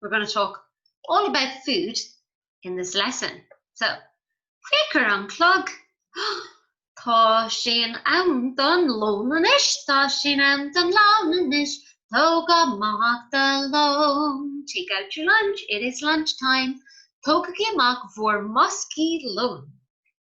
We're going to talk all about food in this lesson. So, féach ar an gclog! Tá sé in am don lón anois, tá sé in am don lón anois, tóg amach do lón, take out your lunch, it is lunch time, tógaigí amach bhur mboscaí lóin.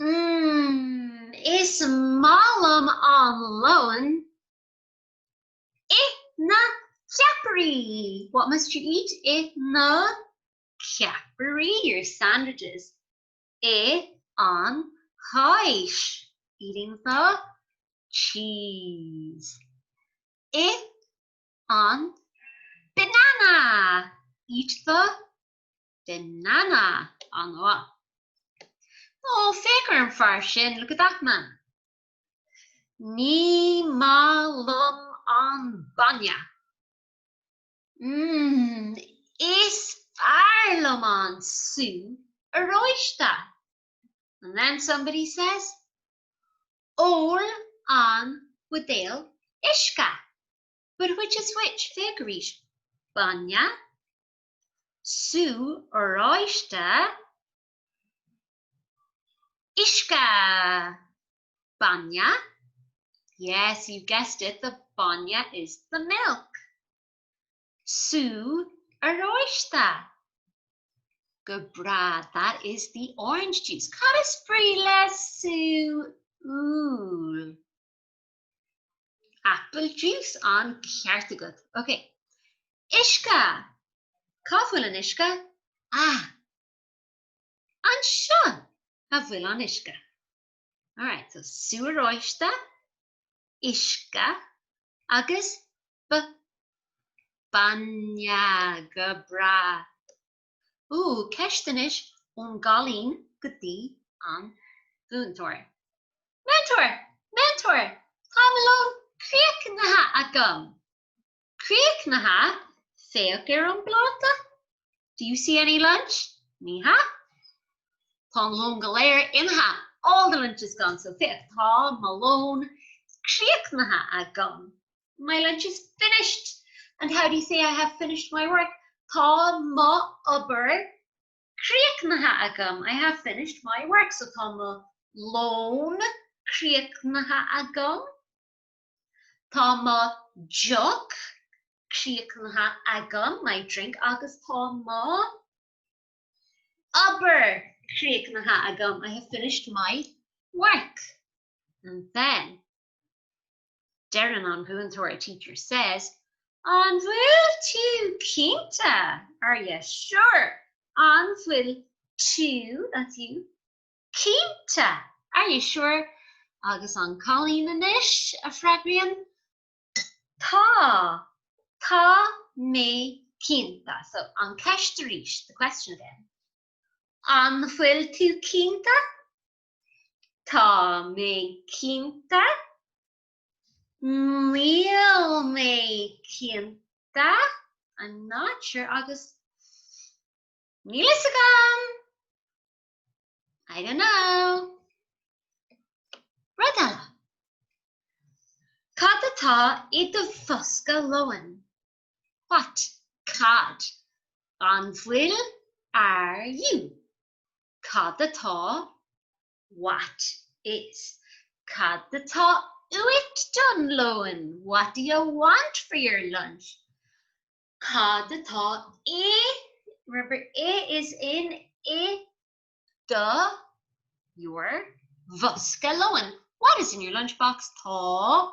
Mmm, is maith liom am lóin. Ith na ceapairí! What must you eat? Ith na ceapairí, your sandwiches. Ith an cháis, eating the cheese. Ith an banana, eat the banana. An úll. Ó, féach ar an fear sin, look at that man. Ní maith liom an bainne. Mmm, is fearr liom an sú oráiste. And then somebody says, Ól an buidéal uisce. But which is which? Féach arís. Bainne sú oráiste, uisce, bainne, yes, you've guessed it, the bainne is the milk, sú oráiste, go breá, that is the orange juice, cad is brí le sú úll? Apple juice an ceart agat. Ok. Uisce! Cá bhfuil an uisce? Ah! Anseo a bhfuil an uisce. Alright, so sú oráiste, uisce agus b. bainne. Go breá. Ó, ceist anois ón gcailín go dtí an mhúinteoir. Múinteoir! Múinteoir! Tá mo lón críochnaithe agam! Críochnaithe? Féach ar an bpláta. Do you see any lunch? Ní hea. Tá an lón go léir imithe. All the lunch is gone, so féach, tá mo lón críochnaithe agam. My lunch is finished and how do you say I have finished my work? Tá m'obair críochnaithe agam, I have finished my work. So tá mo lón críochnaithe agam, tá mo dheoch críochnaithe agam, my drink, agus tá m'obair críochnaithe agam, I have finished my work. And then, Deireann an múinteoir A teacher says, An bhfuil tú cinnte? Are you sure? An bhfuil tú, that's you, cinnte? Are you sure? Agus an cailín anois a freagraíonn, Tá, tá mé cinnte. So, an cheist arís, the question again, An bhfuil tú cinnte? Tá mé cinnte. Níl mé cinnte. I'm not sure agus Níl fhios agam! I don't know! Rud eile. Cad atá i do bhosca lóin? What, cad, an bhfuil, are you? Cad atá, what is, Cad atá uait don lóin, what do you want for your lunch? Cad atá i, remember i is in, i do, your, bhosca lóin, what is in your lunch box, tá,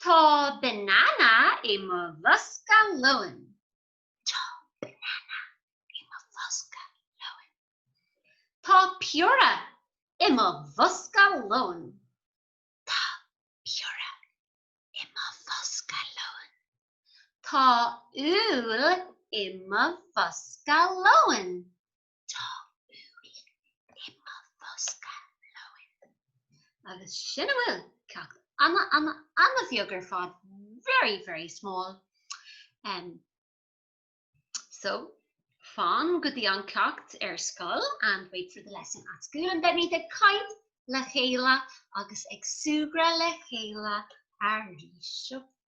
Tá banana i mo bhosca lóin. Tá banana i mo bhosca lóin. Tá piorra i mo bhosca lóin. Tá piorra i mo bhosca lóin. Tá úll i mo bhosca lóin. Tá úll i mo bhosca lóin. Agus sin a bhfuil, ceacht ana bheag ar fad, very very small. Em, so, fan go dtí an ceacht ar scoil and wait for the lesson at school and then beimid ag caint le chéile agus ag súgradh le chéile arís.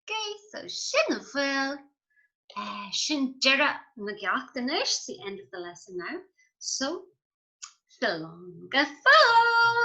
K, so sin a bhfuil. Sin deireadh na gceacht anois, the end of the lesson now, so slán go fóill!